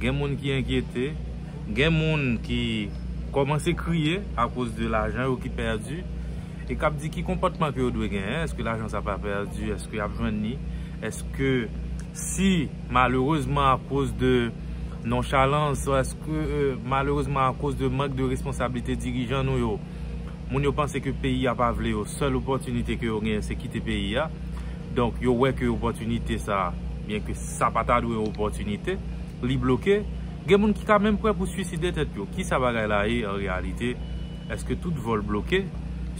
Gen moun ki enkyete, gen moun ki kòmanse kriye akoz de lajan yo ki pèdi e k ap di ki konpòtman ke yo dwe genyen, èske lajan sa pa pèdi, èske y ap jwenn li, èske si malerezman akoz de nonchalans, èske malerezman akoz de mank de responsablite dirijan nou yo. Moun yo panse ke peyi a pa vle yo, sèl opòtinite ke yo genyen se kite peyi a. Donk yo wè ke opòtinite sa, byen ke sa pa ta dwe opòtinite, li bloke. Gen moun ki ka menm prè pou swiside tèt yo. Kisa bagay la ye an reyalite? Eske tout vòl bloke?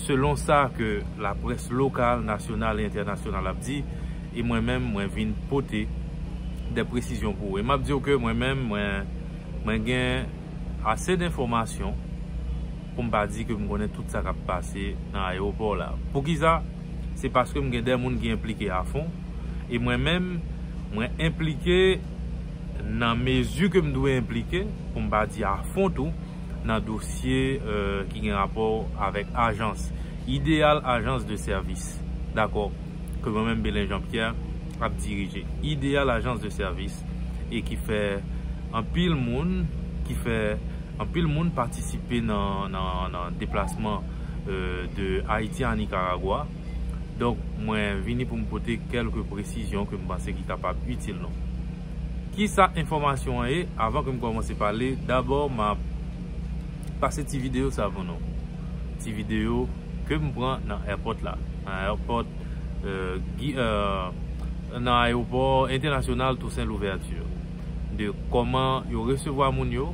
Selon sa ke laprès lokal, nasyonal e entènasyonal ap di, e mwen menm mwen vin pote dè presizyon pou ou. E map di ou ke mwen menm mwen gen ase denfòmasyon. pou m pa di ke m konnen tout sa k ap pase nan ayewopò la. Poukisa? Se paske m gen de moun ki enplike afon, e mwen menm, mwen enplike nan mezi ke m dwe enplike, pou m pa di afon tou, nan dosye ki gen rapò avèk ajans, ideyal ajans de sèvis, dakò, ke mwen menm Belin Jean Pierre ap dirije. Ideyal ajans de sèvis. e ki fè anpil moun ki fè anpil moun patisipe nan deplasman de Ayiti a Nikaragwa donk mwen vini pou m pote kèlke presizyon ke m panse ki kapab itil nou. Kisa enfòmasyon an ye? Avan ke m kòmanse pale dabò m ap pase ti videyo sa pou nou ti videyo ke m pran nan èpòt la nan èpòt nan ayewopò entènasyonal Toussaint Louverture de kòman yo resevwa moun yo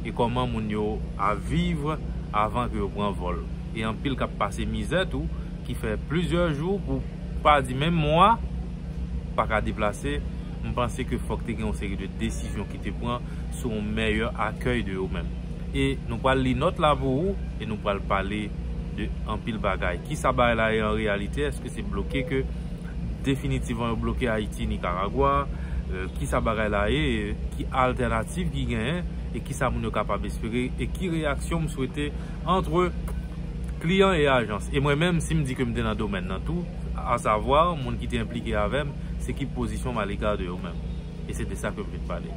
e kòman moun yo ap viv avan ke yo pran vòl e anpil kap pase mizè tou ki fè plizyè jou pou pa di menm mwa pa ka deplase, m panse ke fòk te gen yon seri de desizyon. te pran sou yon mèyè akèy de yo menm. E nou pral li nòt la pou ou e nou pral pale de anpil bagay. Kisa bagay la ye an reyalite? Eske se bloke ke definitivman yo bloke Ayiti, Nikaragwa? Kisa bagay la ye? Ki altènativ ki genyen? E kisa moun yo kapab espere? E ki reyaksyon m swete antre kliyan e ajans? E mwen menm si m di ke m te nan domèn nan tou, asavwa moun ki te enplike avè m, se ki pozisyon m alega de yo menm? e se de sa ke m vin pale.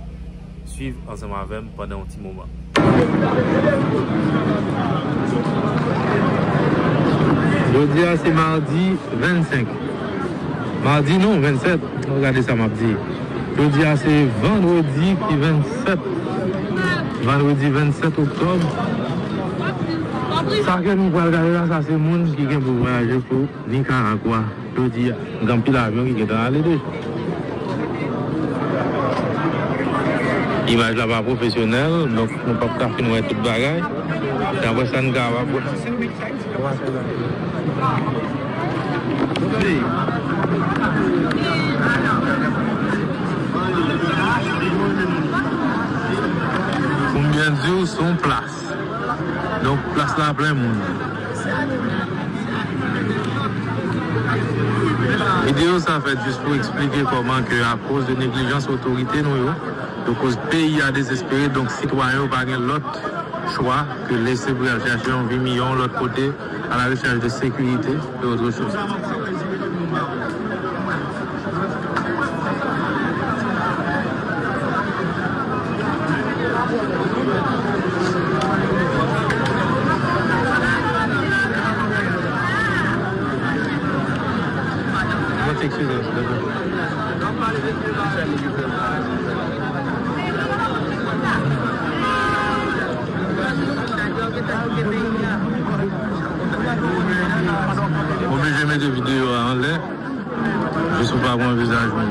Swiv ansanm avè m pandan yon ti moman. Jodi a se mardi 25. Mardi non 27. Mwen gade sa m ap di. Jodi a se vandredi ki 27. Vandredi 27 oktòb. Sa ke nou pral gade la sa se moun ki gen pou vwayaje pou. Nikaragwa, jodi a, gen anpil avyon ki gentan ale tou. Imaj la pa pwofesyonèl, donk nou pap ka fin wè tout bagay. Dapre sa n kapab wè. Pou m byen di w, se yon plas. Donk plas la plen moun. Videyo sa fèt jis pou eksplike kòman ke akoz de neglijans otorite nou yo, yo koz peyi a dezespere donk sitwayen yo pa gen lòt chwa ke lese pou yal chache yon vi miyò yon lòt kote. A la rechèch de sekirite e otre choz. Oblije mete video a anlè jis pou pa wè vizaj moun.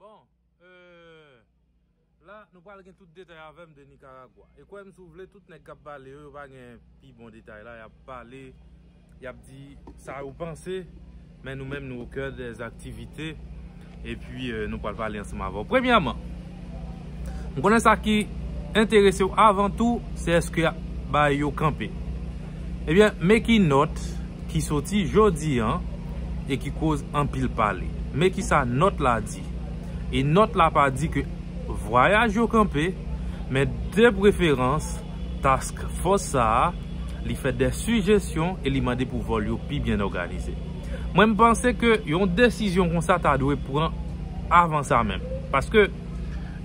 Bon euh la nou pral gen tout detay avèm de Nicaragua. E kwèm si w vle tout nèg kap pale yo, yo pa gen pi bon detay la, yap pale, yap di sa yo panse men nou menm nou au cœur des activités epi nou pral pale ansanm avèw. Premyèman. M konnen sa ki enterese w avan tou se èske y ap bay yo kanpe. Ebyen, men ki nòt ki soti jodi an e ki koz anpil pale. Men ki sa nòt la di. E nòt la pa di ke vwayaj yo kanpe, men de preferans task fòs sa a li fè dè sijesyon e li mande pou vòl yo pi byen òganize. Mwen m panse ke yon desizyon konsa ta dwe pran avan sa menm. Paske.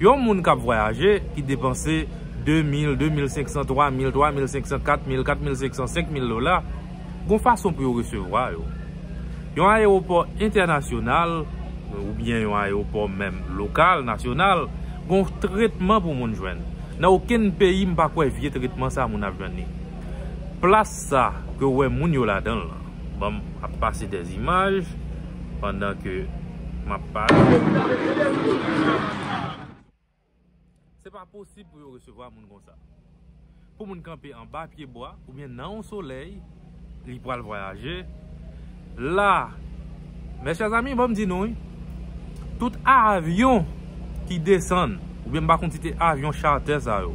Yon moun k ap vwayaje, ki depanse 2 mil, 2 mil 500, 3 mil, 3 mil 500, 4 mil, 4 mil 500, 5 mil dola, gon fason pou yo resevwa yo. Yon ayewopò entènasyonal, oubyen yon ayewopò menm lokal, nasyonal, gon tretman pou moun jwenn. Nan okenn peyi m pa kwè vye tretman sa moun ap jwenn li. Plas sa ke w wè moun yo ladan l lan. Banm ap pase des images pandan ke map pale. Se pa posib pou yo resevwa moun konsa. Pou moun kanpe anba pye bwa oubyen nan yon solèy li pwal vwayaje la. Mes chers amis bon m di nou wi tout avyon ki desann ou byen m pa konn si se avyon charter sa yo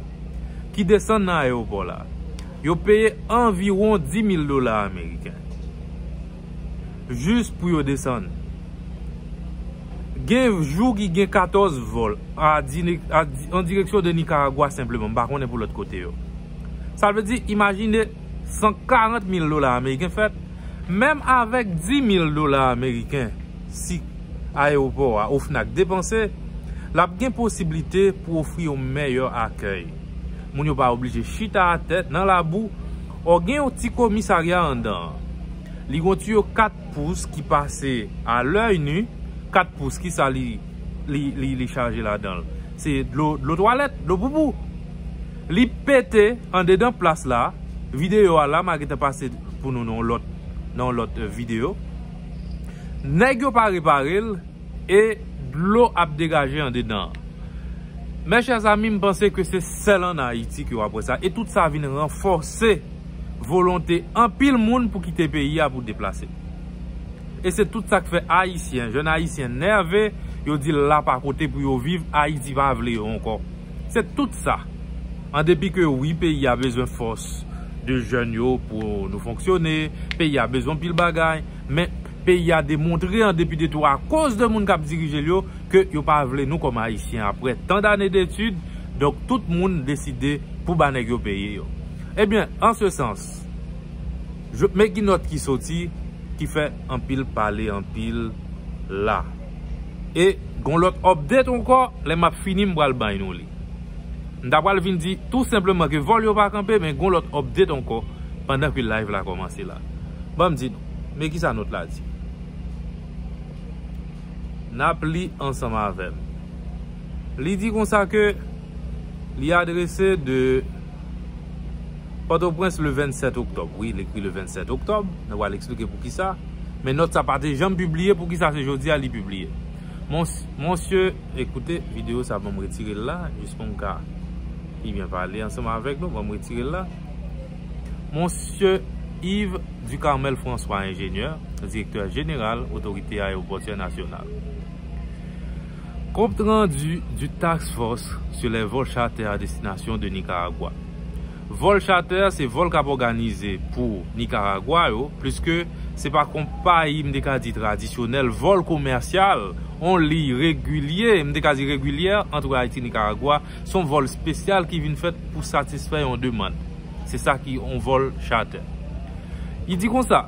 ki desann nan ayewopò la yo peye anviwon 10000 dola ameriken jis pou yo desann gen jou ki gen 14 vol an direksyon de Nicaragua senpleman m pa konnen pou lòt kote yo sa vle di imajine 140000 dola ameriken fèt Menm avèk 10 mil dola ameriken si ayewopò a OFNAC depanse, l ap gen posiblite pou ofri yon mèyè akèy. Moun yo pa oblije chita atè nan labou ò gen yon ti komisarya anndan an. Li gon tiyo 4 pous ki pase a lèy nu, 4 pous ki sa li chaje ladan l? Se dlo twalèt, dlo poupou. Li pete andedan plas la. Video a la ma gentan pase pou nou nan yon lot video. Neg yo pa repare l e dlo ap degaje andedan. Mes chers amis m panse ke se sel an Haiti ke wap we sa e tout sa vin ranfose volonte anpil moun pou kite peyi a pou deplase. E se tout sak fe Haitien, jeune Haitien nerve, yo di la pa kote pou yo viv, Haiti pa vle yo anko. Se tout sa. An depi ke wi peyi a bezwen fòs de jèn yo pou nou fonksyone, peyi a bezwen anpil bagay, men peyi a demontre an depi de tou akoz de moun k ap dirije l yo ke yo pa vle nou kòm Ayisyen aprè tan dane detid, donk tout moun deside pou ba nèg yo peye yo. Ebyen, an se sans, men ki nòt ki soti. Ki fè anpil pale anpil la. E gon lòt update ankò, lè m ap fini m pral bay nou li. M ta pral vin di tou senpleman ke vòl yo pa kanpe men gon lòt update ankò pandan ke live la kòmanse la. Banm di nou, men kisa nòt la di. N ap li ansanm avè m. Li di konsa ke. Li adrese de Pòtoprens le 27 oktòb. Wi, l ekri le 27 oktòb. Nou pral eksplike pou ki sa. Men nòt sa pa te janm pibliye, pou ki sa se jodi a li pibliye. Monsye, ekoute, videyo sa ban m retire l la, jis pou m ka pi byen pale ansanm avèk nou, ban m retire l la. Monsye Yves Ducarmel François, enjenyè, direktè jeneral Otorite Ayewopòtyè Nasyonal. Compte rendu du task force sur les vols charter à destination de Nicaragua Vòl chatè se vòl kap òganize pou Nikaragwa yo, pliske se pa konpayi m te ka di tradisyonèl, vòl komèsyal, on liy regilye, m te ka di regilyè, antre Ayiti Nikaragwa, s on vòl spesyal ki vin fèt pou satisfè yon demand. Se sa ki on vòl chatè. Li di konsa.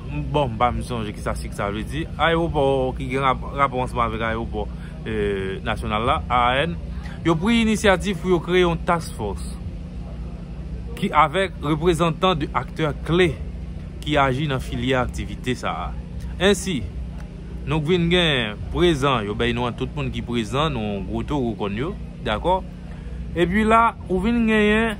Bon, m pa menm sonje kisa sig sa vle di. Ayewopò ki gen rapò ansanm avèk ayewopò nasyonal la, AAN, yo pri inisyativ pou yo kreye yon task force ki avèk reprezantan de aktè kle ki aji nan filyè aktivite sa a. Ensi, nou k vin gen prezan, yo bèy nou an tout moun ki prezan, nou gwo toro kòn yo, dakò? Epi la, ou vin genyen.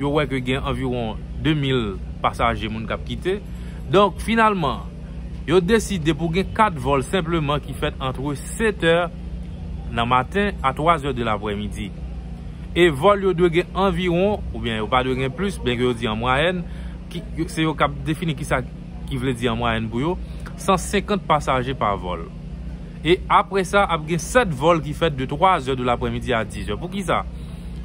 yo wè ke gen anviwon 2000 pasaje moun kap kite. Donk finalman, yo deside pou gen 4 vòl senpleman ki fèt antre 7 è nan maten a 3 è de laprè midi. E vòl yo dwe gen anviwon, oubyen yo pa dwe gen plis, byenke yo di an mwayèn, se yo kap defini kisa ki vle di an mwayèn pou yo, 150 pasaje pa vòl. E apre sa, ap gen 7 vòl ki fèt de 3 zè de lapremidi a 10 zè. Pou ki sa?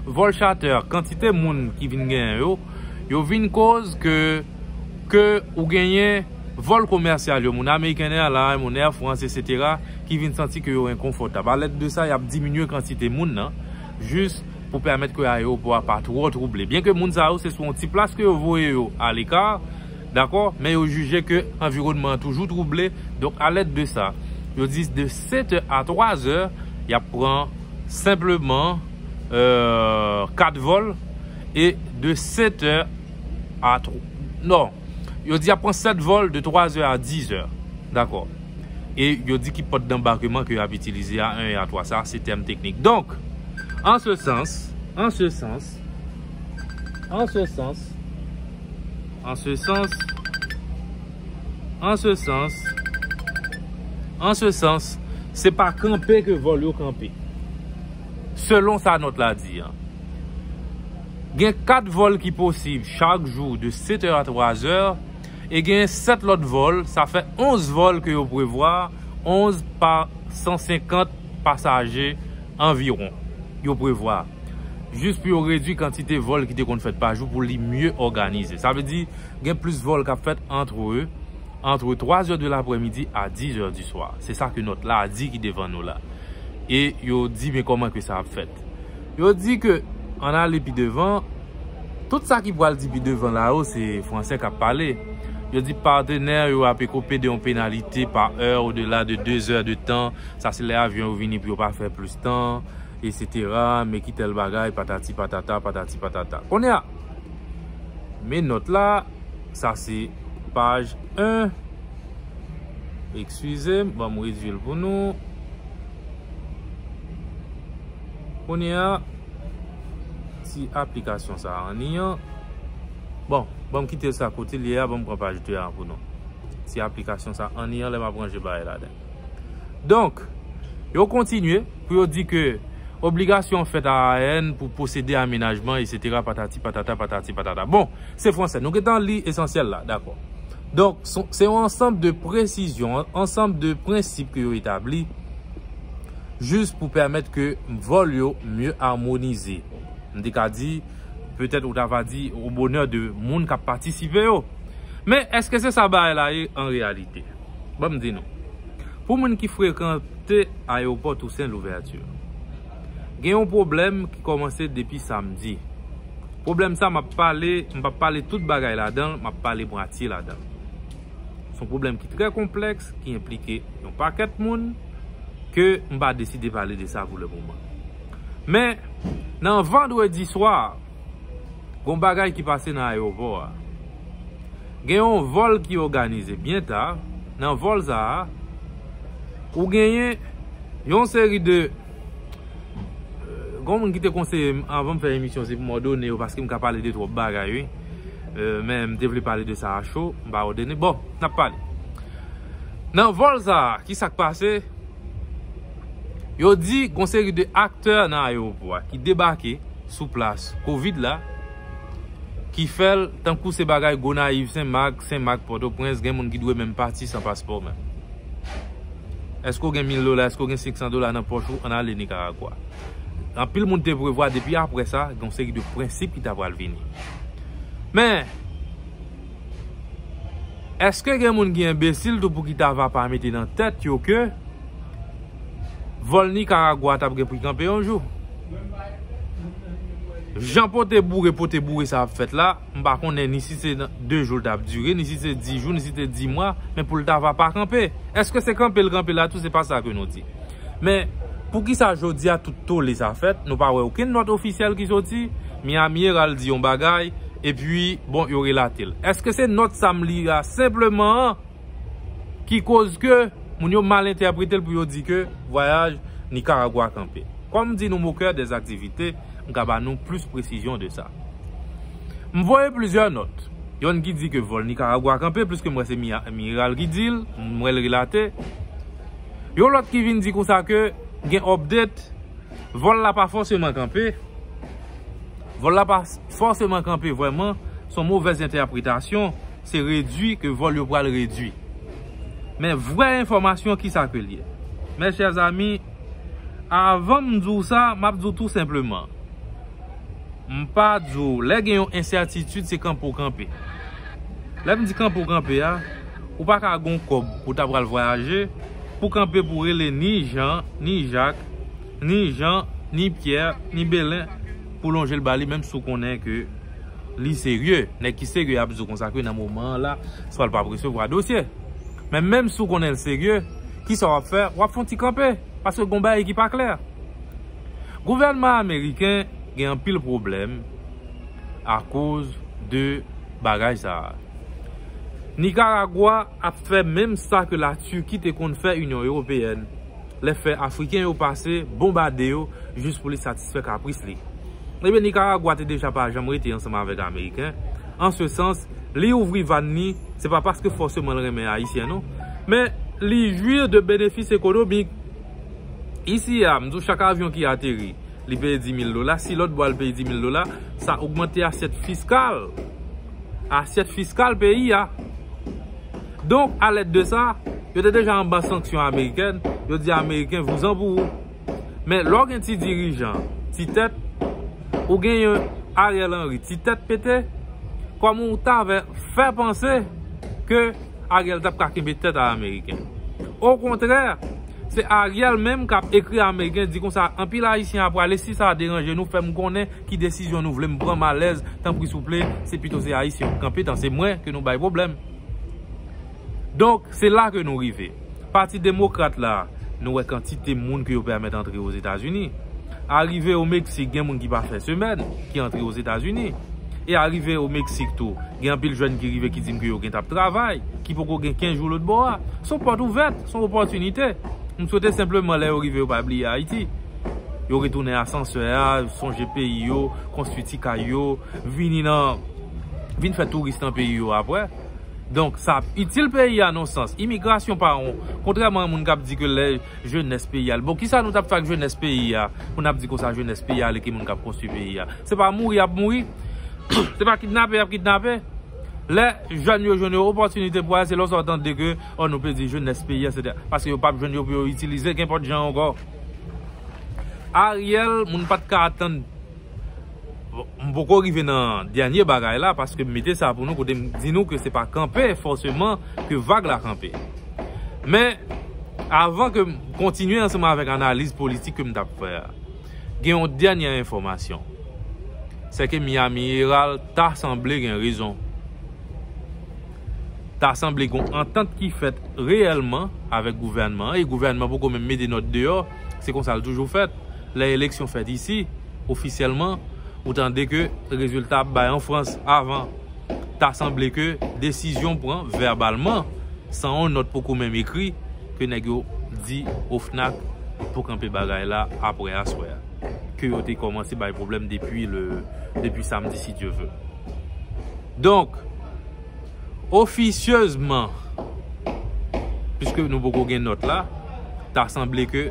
Vòl chatè, kantite moun ki vin genyen yo, yo vin koz ke, ke ou genyen vòl komèsyal yo, moun American Airlines, moun Air France, etc. Ki vin santi ke yo enkonfòtab. A lèd de sa, yap diminye kantite moun nan, jis pou pèmèt ke ayewopò a pa twò twouble. Byen ke moun sa yo, se sou yon ti plas ke yo voye yo a lekar. Dakò, men yo jije ke anviwònman an toujou twouble, donk a lèd de sa, yo di de 7 è a 3 zè, y ap pran senpleman 4 vòl, e de 7 è a, non, yo di y ap pran 7 vòl de 3 è a 10 è, dakò. E yo di ki pòt danbakeman ke y ap itilize a 1 è a 3 sa, se tèm teknik. Donk, an se sans, an se sans. An se sans. An se sans. An se sans. An se sans. Se pa kanpe ke vòl yo kanpe. Selon sa nòt la di an. Gen 4 vòl ki posib chak jou de 7 è a 3 zè. E gen 7 lòt vòl. Sa fè 11 vòl ke yo prevwa. 11 pa 150 pasaje anviron. Yo prevwa. jis pou yo redwi kantite vòl ki te konn fèt pa jou pou li mye òganize. Sa vle di, gen plis vòl k ap fèt antre antre 3 zè de lapremidi a 10 zè di swa. Se sa ke nòt la a di ki devan nou la. E yo di men kòman ke sa ap fèt. Yo di ke, ann ale pi devan, tout sa ki pral di pi devan la yo se franse k ap pale. Yo di patenè yo ape ko pede yon penalite pa è odela de 2 zè de tan. Sa se lè avyon yo vini pou yo pa fè plis tan. esetera, men ki tèl bagay, patati patata, patati patata. Kounye a, men nòt la, sa se paj 1, ekskize m, banm redui l pou nou. Kounye a, si aplikasyon sa a anni an, bon, banm kite sa kote l ye a, banm pran paj 2 a pou nou. Si aplikasyon sa a anni an, lè m ap ranje bagay la den. Donk, yo kontinye pou yo di ke obligasyon fèt a AN pou posede amenajman esetera patati patata patati patata. Bon, se franse, nou gentan li esansyèl la, dakò. Donk, se yon ansanm de presizyon, ansanm de prensip ke yo etabli jis pou pèmèt ke vòl yo mye amonize. M te ka di, petèt ou ta va di, o bonè de moun k ap patisipe yo. Men, èske se sa bagay la ye an reyalite? Ban m di nou, pou moun ki frekante ayewopò Tousen Louvèti, gen yon pwoblèm ki kòmanse depi samdi. Pwoblèm sa m ap pale, m p ap pale tout bagay ladan l, m ap pale mwatye ladan l. S on pwoblèm ki trè konplèks, ki enplike yon pakèt moun, ke m pa deside pale de sa pou le moman. Men, nan vandredi swa. Gon bagay ki pase nan ayewopò a. Gen yon vòl ki oganize byen ta, nan vòl sa a, ou genyen yon seri de, gon moun ki te konseye m avan m fè emisyon se pou m òdone yo paske m ka pale de twòp bagay wi, men m te vle pale de sa a cho, m pa òdone, bon, n ap pale. Nan vòl sa a, ki sa k pase? Yo di gon seri de aktè nan ayewopò a ki debake sou plas kovid la ki fèl tankou se bagay Gonayiv, Sen Mak, Sen Mak, Pòtoprens gen moun ki dwe menm pati san paspò menm. Eske w gen mil dola, eske w gen 500 dola nan pòch ou ann ale Nikaragwa. Anpil moun te prevwa depi aprè sa gon seri de prensip ki ta pral vini. Men eske gen moun ki enbesil tou pou ki ta va pa mete nan tèt yo ke. Vol Nicaragua tap gen pou kanpe yon jou. Jan pote boure pote boure sa ap fèt la, m pa konnen ni si se 2 jou l tap dire, ni si se 10 jou, ni si se 10 mwa, men pou l ta va pa kanpe. Eske se kanpe l kanpe la tou se pa sa ke nou di. Men, pou ki sa jodi a tout tole sa fèt, nou pa wè okenn nòt ofisyèl ki soti, Miami Herald di yon bagay, epi bon yo relate l. Eske se nòt sa m li a senpleman an? Ki koz ke moun yo mal entèpretel pou yo di ke vwayaj Nicaragua kanpe. Kòm di nou mokè des aktivite, m ka ba nou plis presizyon de sa. M voye plizyè nòt. Yonn ki di ke vòl Nicaragua kanpe, pliske m wè se Miral ki dil, m wèl relate. Yon lòt ki vin di konsa ke gen update, vòl la pa fòseman kanpe. Vòl la pa fòseman kanpe vwèman, son movèz entèpretasyon. Se redwi ke vol yo pral redwi. Men vrè enfòmasyon kisa ke li ye? Mes chers amis, avan m di w sa, m ap di w tou senpleman, m pa di w lè gen yon ensètitid se kanpe w kanpe. Lè m di kanpe w kanpe a, ou pa ka gen yon kòb ou ta pral vwayaje pou w kanpe pou w rele ni Jan, ni Jak, ni Jan, ni Pyè, ni Belen pou w lonje l ba li menm si w konnen ke li serye. Nèg ki serye ap di w konsa ke nan moman an la, swa l pa p resevwa dosye. Men menm si w konnen l serye, ki sa w ap fè? W ap fè yon ti kanpe. Paske gon bagay ki pa klè. Gouvènman ameriken gen anpil pwoblèm akoz de bagay sa a. Nikaragwa ap fè menm sa ke la Turquie te konn fè Inyon Ewopeyèn. lè fè Afriken yo pase bonbade yo jis pou li satisfè kapris li. Ebyen Nikaragwa te deja pa janm rete ansanm avèk Ameriken, an se sans, li ouvri vàn ni, se pa paske fòseman l renmen Ayisyen non, men li jwir de benefis ekonomik. Isi a, m di w chak avyon ki ateri, li peye 10,000 dola, si lòt bò a l peye 10,000 dola, sa ogmante asyèt fiskal, asyèt fiskal peyi a. Donk, a lèd de sa, yo te deja anba sanksyon amerikèn, yo di ameriken vouzan pou ou. Men, lè w gen ti dirijan, ti tèt, ou gen yon Ariel Henry ti tèt pete, kòm ou ta vè fè panse ke Ariel t ap ka kenbe tèt a ameriken. O kontrè, se Ariel menm k ap ekri ameriken di konsa anpil ayisyen ap prale si sa deranje nou fè m konnen. Ki desizyon nou vle m pran m alèz tanpri souple se pito se ayisyen yo ki kanpe tan se mwen ke nou bay pwoblèm donk se la ke nou rive pati demokrat la nou wè kantite moun ke yo pèmèt antre ozetazini arive o meksik gen moun ki pa fè semèn ki antre ozetazini e arive o meksik tou gen anpil jèn ki rive ki di m ke yo gentan ap travay ki poko gen 15 jou lotbò a son pòt ouvèt son opòtinite m swete senpleman lè yo rive yo pa bliye ayiti. Yo retounen asansè a, sonje peyi yo, konstwi ti kay yo, vini nan, vin fè touris nan peyi yo aprè. Donk, sa ap itil peyi a non sans. Imigrasyon pa yon, kontrèman a moun k ap di ke lè jenès peyi a, bon, kisa nou t ap fè ak jenès peyi a, pou n ap di konsa jenès peyi a ale ki moun k ap konstwi peyi a. Se pa mouri y ap mouri, se pa kidnape y ap kidnape. Lè jèn yo jwenn yon opòtinite pou ale, se lè w sa w tande ke, o, nou pèdi jenès peyi a, se te, paske yo p ap jwenn yo pou yo itilize kenpòt jan ankò. Ariel moun pat ka atann. M poko rive nan dènye bagay la paske m mete sa pou nou kote m di nou ke se pa kanpe fòseman ke vag la kanpe. Men avan ke m kontinye ansanm avèk analiz politik ke m tap fè a. Gen yon dènye enfòmasyon. Sè ke Miami Herald ta sanble gen rezon. ta sanble gon antant ki fèt reyèlman avèk gouvènman an e gouvènman poko menm mete nòt deyò, se konsa l toujou fèt lè eleksyon fèt isi ofisyèlman ou tande ke rezilta ap bay an Frans avan ta sanble ke desizyon pran vèbalman san yon nòt poko menm ekri ke nèg yo di OFNAC pou kanpe bagay la aprè aswè a ke yo te kòmanse bay pwoblèm depi le depi samdi si Dye ve. Donk, ofisyezman, piske nou poko gen nòt la, ta sanble ke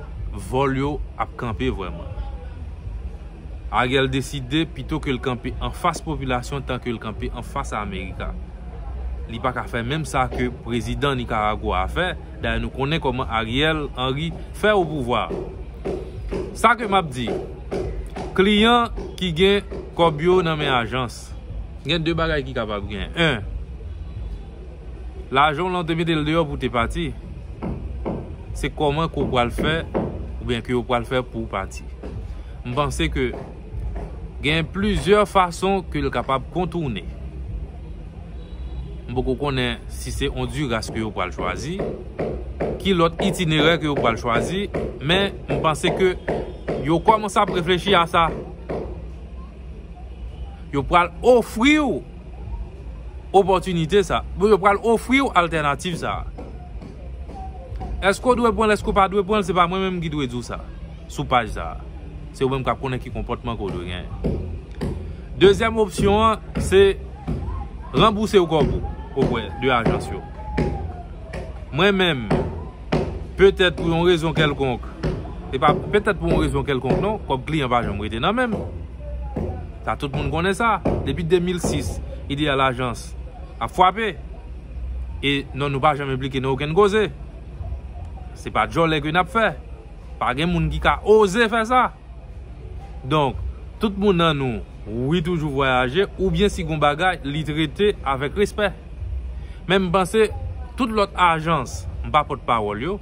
vòl yo ap kanpe vrèman. Ariel deside pito ke l kanpe anfas popilasyon tan ke l kanpe anfas Amerika. Li pa ka fè menm sa ke prezidan Nicaragua a fè. Dayè nou konnen koman Ariel Henry fè o pouvwa. Sa ke map di, kliyan ki gen kob yo nan men ajans. Gen 2 bagay ki kapab gen. 1. Lajan w lan w te mete l deyò pou w te pati. Se koman ke w pral fè oubyen ke yo pral fè pou w pati. M panse ke. Gen plizyè fason ke l kapab kontourne. M poko konnen si se Onduras ke yo pral chwazi, ki lòt itinerè ke yo pral chwazi, men m panse ke yo kòmanse ap reflechi a sa. Yo pral ofri ou opòtinite sa. Bon, yo pral ofri ou altènativ sa. Eske ou dwe pran l, eske ou pa dwe pran l, se pa mwen menm ki dwe di ou sa. sou paj sa a. Se ou menm kap konnen ki konpòtman ke ou dwe genyen. Dezyèm opsyon an, se ranbouse ou kòb ou oprè de ajans yo. Mwen menm, petèt pou yon rezon kèlkonk, e pa petèt pou yon rezon kèlkonk non, kòb kliyan pa janm rete nan menm. Sa tout moun konnen sa. Depi 2006, ideyal ajans ap fwape. E non nou pa janm enplike nan okenn koze. Se pa djòlè ke nap fè. Pa gen moun ki ka oze fè sa. Donk, tout moun nan nou, wi toujou vwayaje, oubyen si gon bagay, li trete avèk respè. Men m panse, tout lòt ajans, m pa pòt pawòl yo,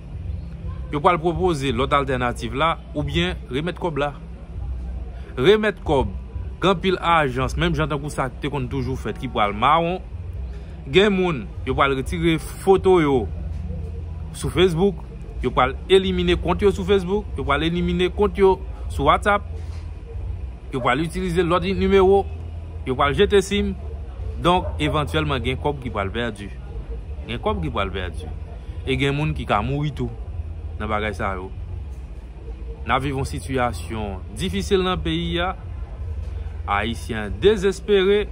yo pral pwopoze lòt altènativ la, oubyen remèt kòb la. Remèt kòb, gen anpil ajans, menm jan tankou sa ki te konn toujou fèt ki pral mawon. Gen moun, yo pral retire foto yo sou Facebook. Yo pral elimine kont yo sou Facebook, yo pral elimine kont yo sou WhatsApp, yo pral itilize lòt nimewo, yo pral jete sim, donk evantyèlman gen kòb ki pral pèdi. Gen kòb ki pral pèdi. E gen moun ki ka mouri tou nan bagay sa yo. N ap viv yon sitiyasyon difisil nan peyi a. Ayisyen dezespere,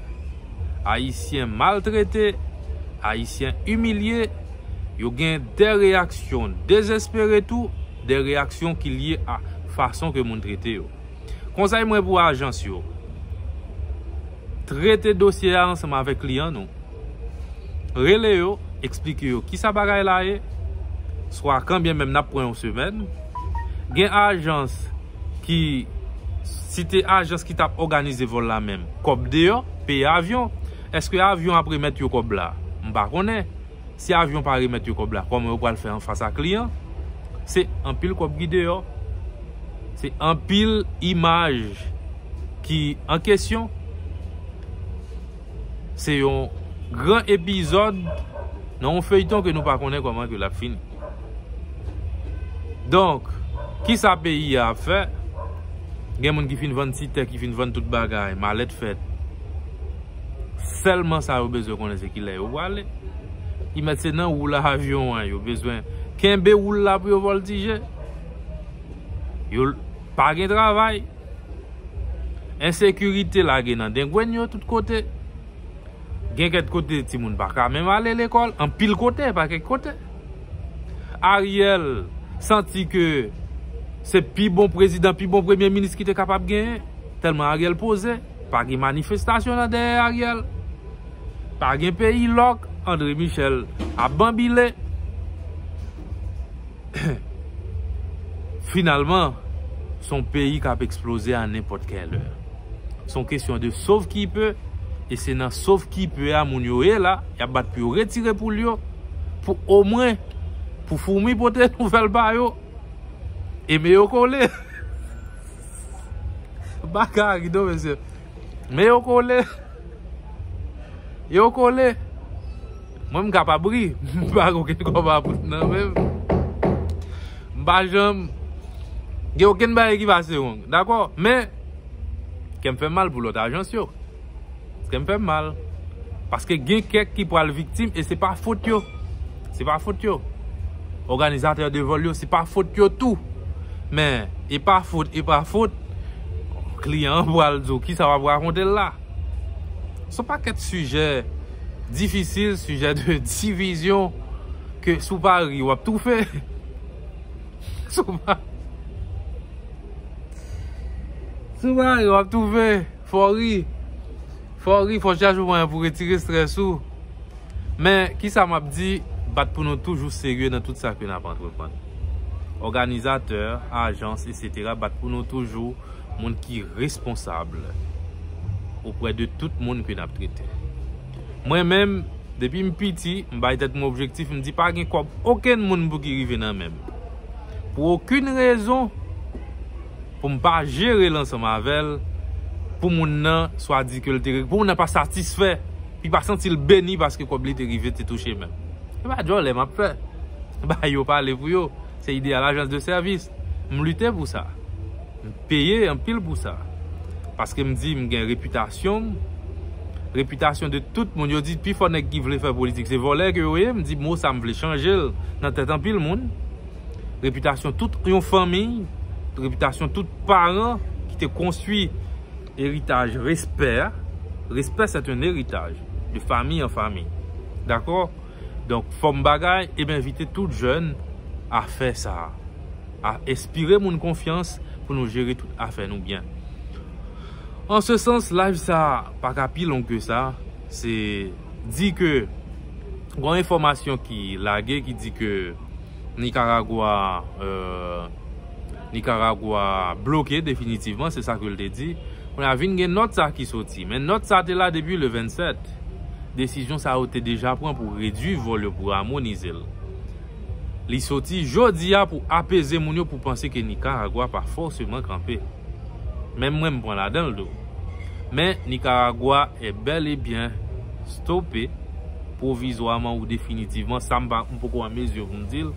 Ayisyen maltrete, Ayisyen imilye. Yo gen de reyaksyon dezespere tou, de reyaksyon ki lye a fason ke moun trete yo. Konsèy mwen pou ajans yo, trete dosye a ansanm avèk kliyan nou. Rele yo, eksplike yo kisa bagay la ye, swa kan byen menm nap pran yon semèn. Gen ajans ki, si te ajans ki tap òganize vòl la menm, kòb deyò, peye avyon. Eske avyon ap remèt yo kòb la? M pa konnen. Si avyon pa remèt yo kòb la kòman yo pral fè anfas ak li an? Se anpil kòb ki deyò. Se anpil imaj ki an kesyon. Se yon gran epizòd nan yon feyton ke nou pa konnen kòman ke l ap fini. Donk, ki sa peyi a ap fè? Gen moun ki fin vann ti tè, ki fin vann tout bagay, malèt fèt. Sèlman sa yo bezwen konnen se ki lè yo prale. Ki mèt se nan wou la avyon an yo bezwen kenbe wou la pou yo vòltije. Yo pa gen travay. Ensekirite lage nan dengwenn yo tout kote. Gen kèt kote ti moun pa ka menm ale lekòl. An pil kote pa kèk kote. Ariel santi ke se pi bon prezidan, pi bon premye minis ki te kapab genyen. Tèlman Ariel poze. Pa gen manifestasyon nan dèyè Ariel. Pa gen peyi lòk. Andre Michel ap banbile. Finalman, son peyi k ap eksploze a nenpòt kè lè. Son kesyon de sov ki pe, e se nan sov ki pe a moun yo ye la, y ap bat pou yo retire poul yo, pou omwen, pou foumi pote nouvèl pa yo, e me yo kole. Baka a ri non mesye. Men yo kole. Yo kole. Mwen m kapab ri. M pa gen okenn kòb a bout nan men m. M pa janm. Gen okenn bagay ki pase wrong. Dakò. Men. Kè m fè mal pou lòt ajans yo. Kè m fè m mal. Paske gen kèk ki pral viktim e se pa fot yo. Se pa fot yo. Òganizatè de vòl yo se pa fot yo tou. Men, e pa fot, e pa fot. Kliyan an pral di w ki sa w ap rakonte la. Son pakèt sijè difisil, sijè de divizyon ke si w pa ri w ap toufe. Si w pa ri w ap toufe. Fò ri, fò ri, fò chache mwayen pou retire strès ou. Men, kisa m ap di, bat pou nou toujou serye nan tout sa ke n ap antreprann. Òganizatè, ajans, esetera, bat pou nou toujou moun ki responsab oprè de tout moun ke n ap trete. Mwen menm, depi m piti, m bay tèt mwen objektif, m di pa gen kòb okenn moun pou ki rive nan men m. Pou okenn rezon. pou m pa jere l ansanm avè l pou moun nan swa di ke l te pou moun nan pa satisfè li pa santi l beni paske kòb li te rive te touche menm se pa djòlè m ap fè bay yo pale pou yo se ideyal ajans de sèvis m lite pou sa m peye anpil pou sa paske m di m gen repitasyon m repitasyon de tout moun yo di pi fò nèg ki vle fè politik se vòlè ke yo ye m di mo sa m vle chanje l nan tèt anpil moun. repitasyon tout yon fanmi, repitasyon tout paran ki te konstwi eritaj respè a. Respè se ton eritaj de fanmi an fanmi. Dakò? Donk fòm bagay e m envite tout jèn a fè sa. A espire moun konfyans pou nou jere tout afè nou byen. An se sans live sa pa ka pi long ke sa. Se di ke gon enfòmasyon ki lage ki di ke. Nicaragua bloke definitivman, se sa ke li te di. Kounye a vin gen nòt sa ki soti. Men nòt sa te la depi le 27. Desizyon sa yo te deja pran pou redui vòl yo, pou amonize l. Li soti jodi a pou apeze moun yo pou panse ke Nicaragua pa fòseman kanpe. Menm mwen m pran ladan l tou. Men, Nikaragwa è bèl e byen stope pwovizwaman ou definitivman, sa m pa, m poko an mezi pou m di l.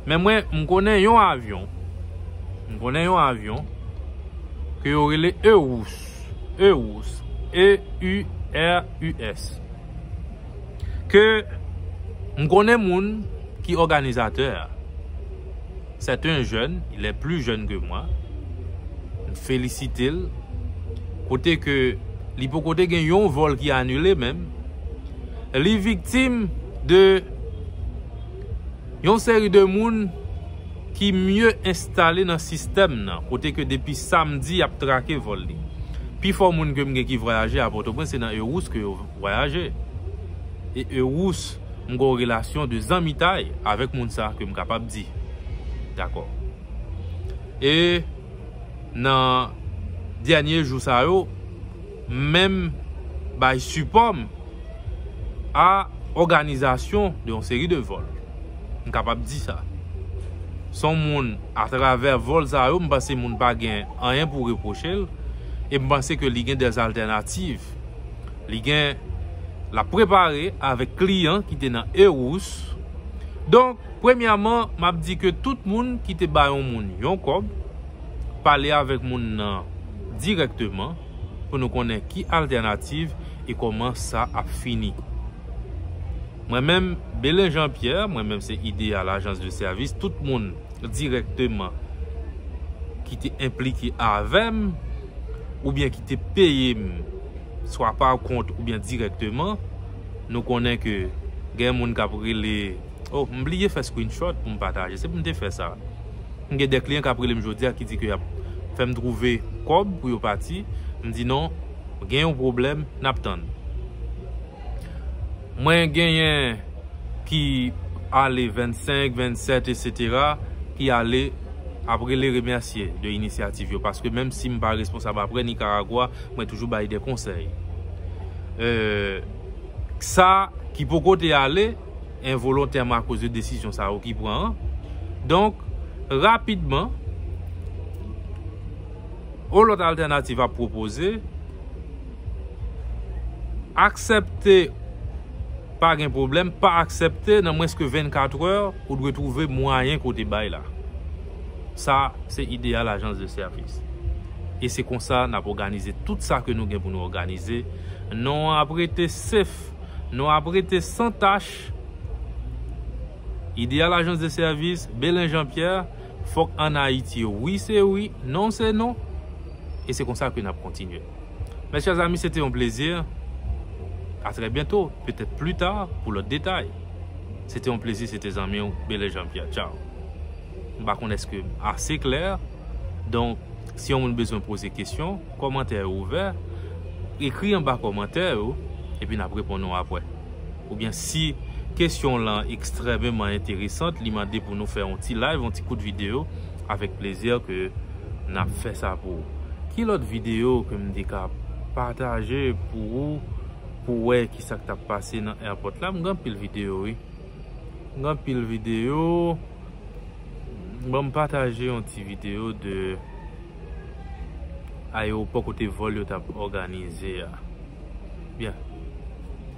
Men mwen, m konnen yon avyon, m konnen yon avyon, ke yo rele Eurus, Eurus, E-U-R-U-S. Ke m konnen moun ki òganizatè a. Sèt en jèn, il è pli jèn ke mwa. M felisite l. Kote ke li poko te gen yon vòl ki anile menm. Li viktim de yon seri de moun ki mye enstale nan sistèm nan. Kote ke depi samdi y ap trake vòl li. Pi fò moun ke m gen ki vwayaje a Pòtoprens se nan Eros ke yo. vwayaje e ewous m gen yon relasyon de zanmitay avèk moun sa ke m kapab di dakò e nan dènye jou sa yo m menm bay sipò m a òganizasyon de yon seri de vòl m kapab di sa s on moun atravè vòl sa yo m panse moun pa gen anyen pou repwoche l e m panse ke li gen dèzaltènativ. Li gen la prepare avèk kliyan ki te nan Erous. Donk, premyèman, m ap di ke tout moun ki te ba yon moun yon kòb, pale avèk moun nan dirèkteman pou nou konnen ki altènativ e kòman sa ap fini. Mwen menm, Belen Jean Pierre, mwen menm se Ideal Agence de Service, tout moun dirèkteman ki te enplike avè m, oubyen ki te peye m swa pa kont oubyen dirèkteman, nou konnen ke gen moun k ap rele, oh m bliye fè screenshot pou m pataje, se pou m te fè sa, m gen de kliyan k ap rele m jodi a ki di ke y ap fè m twouve kòb pou yo pati, m di non, gen yon pwoblèm, n ap tann. Mwen genyen ki ale 25, 27 etc ki ale ap rele remèsye de inisyativ yo paske menm si m pa responsab aprè Nicaragua mwen toujou bay de konsèy. Sa ki poko te ale envolontèman akoz de desizyon sa yo ki pran an. Donk rapidman yon lòt altènativ ap pwopoze. Aksepte pa gen pwoblèm, pa aksepte nan mwens ke 24 è ou dwe twouve mwayen ke w te bay la. Sa se ideyal ajans de sèvis. E se konsa n ap òganize tout sa ke nou gen pou nou òganize. Non an ap rete sef, non an ap rete san tach. Ideyal ajans de sèvis, Belen Jean Pierre, fòk an Ayiti wi se wi, non se non. E se konsa ke n ap kontinye. Mes chers amis se te yon plezi a trè byento petèt pli ta pou lòt detay se te yon plezi se te zanmi w Belè Jean Pierre tchaw m pa konn eske m ase klè donk si yon moun bezwen poze kesyon kòmantè yo ouvè ekri anba kòmantè yo epi n ap reponn ou apwè oubyen si kesyon w lan ekstrèmeman enteresant li mande pou nou fè yon ti live yon ti kout video avèk plezi ke Nap fè sa pou ou. Ki lòt video ke m te ka pataje pou ou pou wè ki sa k tap pase nan airport la? M gen anpil video wi. M gen anpil video. Bon m pataje yon ti video de aeroport kote vòl yo tap òganize a. Byen.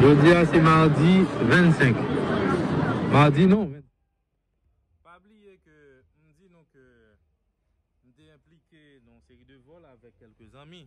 Jodi a se mardi 25. Mardi non. Pa bliye ke m di nou ke m te enplike nan yon seri de vòl avèk kèlke zanmi.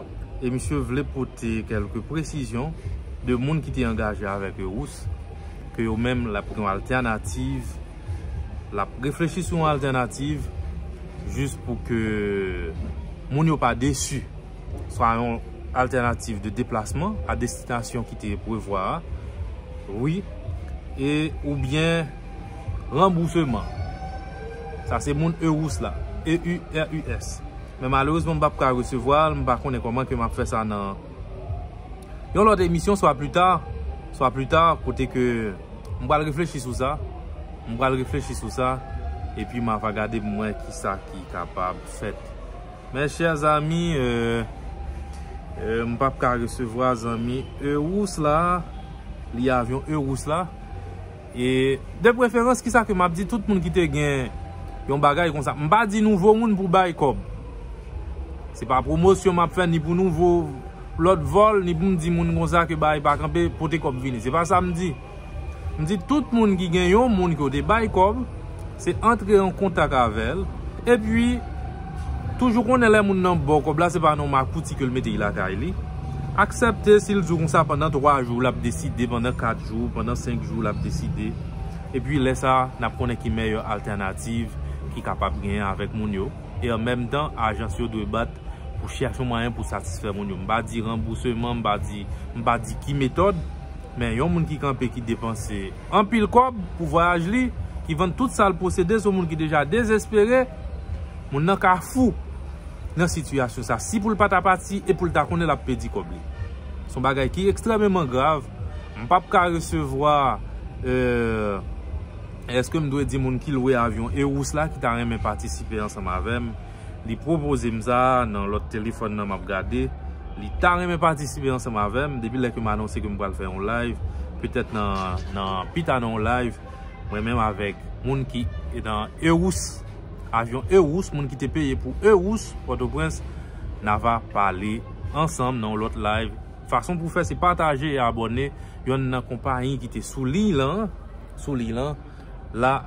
e misye vle pote kelke presizyon de moun ki te angaje avèk yo ous ke yo menm lap gen yon altènativ lap reflechi sou yon altènativ jis pou ke moun yo pa desi swa yon altènativ de deplasman a destinasyon ki te prevwa a wi e ou byen ranbouseman sa se moun e ous la e u r u s Men malerezman m pap ka resevwa l, m pa konnen kòman ke m ap fè sa nan yon lòt emisyon swa pli ta, swa pli ta kote ke m pral reflechi sou sa, m pral reflechi sou sa epi m ava gade pou m wè ki sa ki kapab fèt. Mes chers amis, euh, m pap ka resevwa zanmi Euros la, li avyon Euros la. E de preferans ki sa ke map di tout moun ki te gen yon bagay kon sa. M pa di nouvo moun pou bay kob. Se pa promosyon map fè ni pou nouvo lot vol, ni pou m di moun kon sa ke bagay pa kanpe pote kob vini. Se pa sa m di. M di tout moun ki gen yon moun ke w te bay kob. Se antre an kontak avèl. Epi toujou konnen lè moun nan baw kòb la se pa nan yon makouti ke l mete lakay li. Aksèpte si l di w konsa pandan 3 jou l ap deside, pandan 4 jou, pandan 5 jou l ap deside. Epi lè sa n ap konnen ki mèyè altènativ ki kapab genyen avèk moun yo. E an menm tan ajans yo dwe bat pou chèche yon mwayen pou satisfè moun yo. M pa di ranbouseman, m pa di ki metòd. Men yon moun ki kanpe ki depanse anpil kòb pou vwayaj li, ki vann tout sa l posede se yon moun ki deja dezespere. Moun nan ka fou nan sitiyasyon sa a. Si pou l pa ta pati e pou l ta konnen l ap pèdi kòb li. Se yon bagay ki ekstrèmeman grav. M pap ka resevwa eske m dwe di moun ki lwe avyon Eros la ki ta renmen patisipe ansanm avè m. li pwopoze m sa nan lòt telefòn nan map gade li ta renmen patisipe ansanm avèm depi lè kem anonse kem pral fè yon live petèt nan pita nan yon live mwen menm avèk moun ki nan Eros avyon Eros moun ki te peye pou Eros pòtoprens na va pale ansanm nan yon lòt live fason pou fè se pataje e abòne yonn nan konpayi ki te sou liy lan sou liy lan. la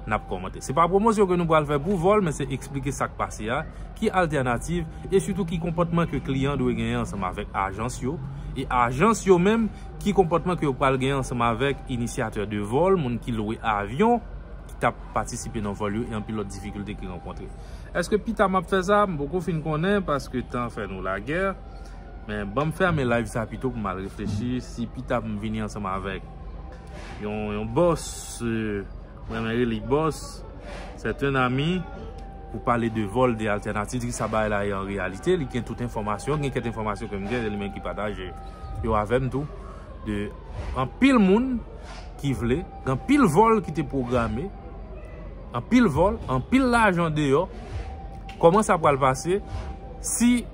nap komante. Se pa pwomosyon ke nou pral fè pou vol men se eksplike sak pase a, ki altènativ e sitou ki konpotman ke kliyan dwe genyen ansanm avèk ajans yo e ajans yo menm ki konpotman ke yo pral genyen ansanm avèk inisyatè de vol, moun ki lwe avyon ki tap patisipe nan vol yo e anpil lot difikilte ki rankontre. Eske pita map fè sa? M poko fin konnen paske tan fè nou lagè men banm fèmen live sa pito pou mal reflechi si pita m vini ansanm avèk. Yon bòs, mwen renmen rele li bòs, c'est un ami, pou pale de vol, de altènativ, di ki sa bagay la ye an reyalite, li gen tout enfòmasyon, gen kèk enfòmasyon ke m gen, se li menm ki pataje yo avè m tou, de anpil moun ki vle, gen anpil vol ki te pwograme, anpil vol, anpil lajan deyò, kòman sa pral pase, si...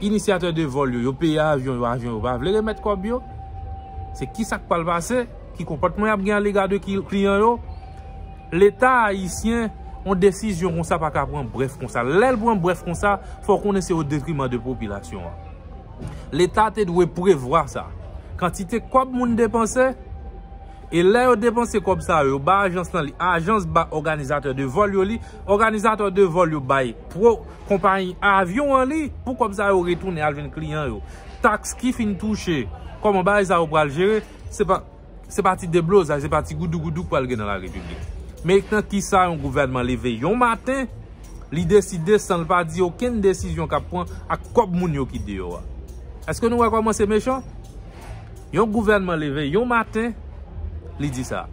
Inisyatè de vòl yo, yo peye avyon yo, avyon yo pa vle remèt kòb yo. Se ki sa k pral pase? Ki konpòtman y ap gen alega de kliyan yo? Leta ayisyen, yon desizyon konsa pa ka pran brèf konsa. Lè l pran brèf konsa, fò w konnen se o detriman de popilasyon an. Leta te dwe prevwa sa. Kantite kòb moun depanse, e lè yo depanse kòb sa yo, yo ba ajans lan li, ajans ba òganizatè de vòl yo li, òganizatè de vòl yo bay konpayi avyon an li pou kòb sa yo retounen al jwenn kliyan yo. Taks ki fin touche, kòman bagay sa yo pral jere, se pa ti deblozay, se pa ti goudougoudou k pral gen nan la repiblik. Men nan ki sa yon gouvènman leve yon maten, li deside san l pa di okenn desizyon k ap pran ak kòb moun yo ki deyò a. Eske nou wè kòman se mechan? Yon gouvènman leve yon maten, li di sa.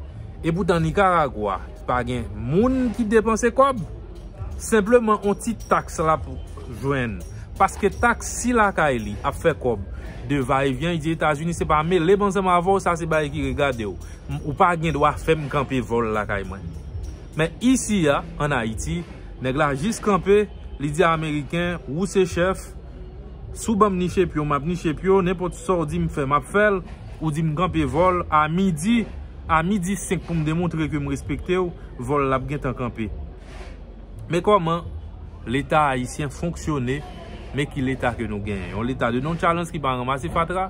E poutan Nikaragwa. Pa gen moun ki depanse kòb. Senpleman on ti taks l ap jwenn. Paske taks si lakay li ap fè kòb de va e vyen. Li di Etazini se pa mele m ansanm avè w sa se bagay ki regade w. Ou pa gen dwa fè m kanpe vòl lakay mwen. Men isi a an Ayiti nèg la jis kanpe li di ameriken wou se chèf. Si w banm niche pye w map niche pye w nenpòt sa w di m fè map fè l ou di m kanpe vòl a midi a midi 5 pou m demontre ke m respekte w vòl la ap gentan kanpe men kòman leta ayisyen fonksyone men ki leta ke nou genyen yon leta de nonchalans ki pa ranmase fatra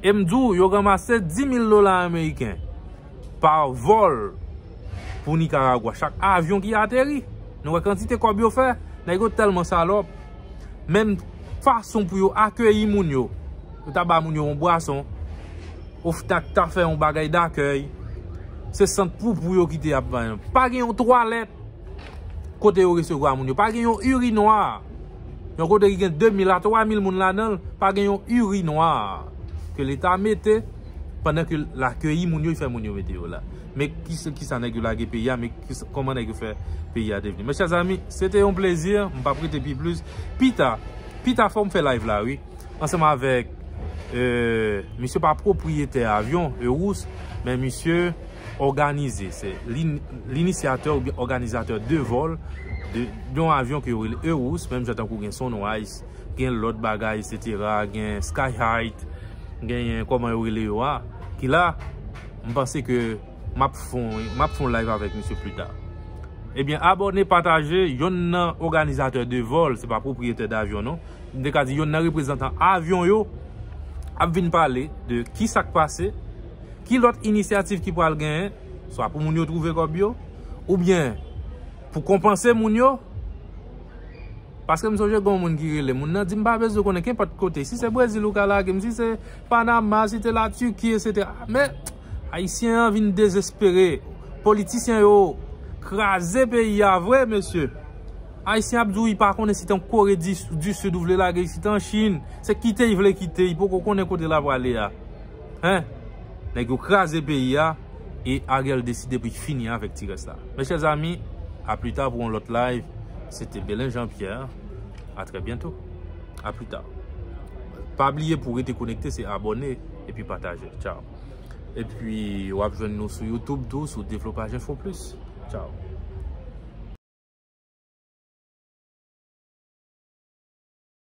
e m di w yo ranmase 10 mil dola ameriken. Pa vol pou Nicaragua. Chak avyon ki ateri. Nou wè kantite kob yo fè. Nèg yo telman salop. Menm fason pou yo akeyi moun yo. Yo ta ba moun yo yon bwason. Oftak ta fè yon bagay dakey. Se sant poupou yo kite ap bay. Pa gen yon twalet. Kote yo resevwa moun yo. Pa gen yon uri nwa. Yon kote ki gen 2000 a 3000 moun la nan. Pa gen yon uri nwa. Ke leta mete. Pandan ke l akeyi moun yo, li fè moun yo mete yo la. Men ki sa nèg yo lage peyi a, men kòman nèg yo fè peyi a devni. Mes chers amis, se te yon plezi, m pa p rete pi plis. Pi ta, pi ta fò m fè live la wi. Ansanm avèk, misye pa pwopriyetè avyon, Eros, men misye òganize. Se l'inisyatè oubyen òganizatè de vòl, yon avyon ki yo rele Eros, menm jan tankou gen Sunrise. gen lòt bagay esetera, gen sky height, genyen kòman yo rele yo a, ki la, m panse ke m ap fon, m ap fon live avèk misye pli ta. Ebyen, abòne, pataje, yonn nan òganizatè de vòl, se pa pwopriyetè davyon non, m te ka di yonn nan reprezantan avyon yo, ap vin pale de ki sa k pase, ki lòt inisyativ ki pral genyen, swa pou moun yo twouve kòb yo, oubyen pou konpanse moun yo. Paske m sonje gon moun ki rele moun nan di m pa bezwen konnen kenpòt kote si se brezil ou ka lage m si se panama si te la turquie etc men ayisyen an vin dezespere politisyen yo kraze peyi a vre mesye ayisyen ap di w li pa konnen si te yon kore du sud ou vle lage si te yon chine se kite li vle kite li poko konnen kote lap prale a. Hein! Nèg yo kraze peyi a e Ariel deside pou li fini avèk ti rès la. Mes chers amis, a plus tard pou yon lòt live. Se te Belen Jean Pierre. A très bientôt. A plus tard. Pa bliye pou rete konekte se abone epi pataje. Ciao. Epi wap jwenn nou sou YouTube tou sou Devlopaj Enfo Plis. Ciao.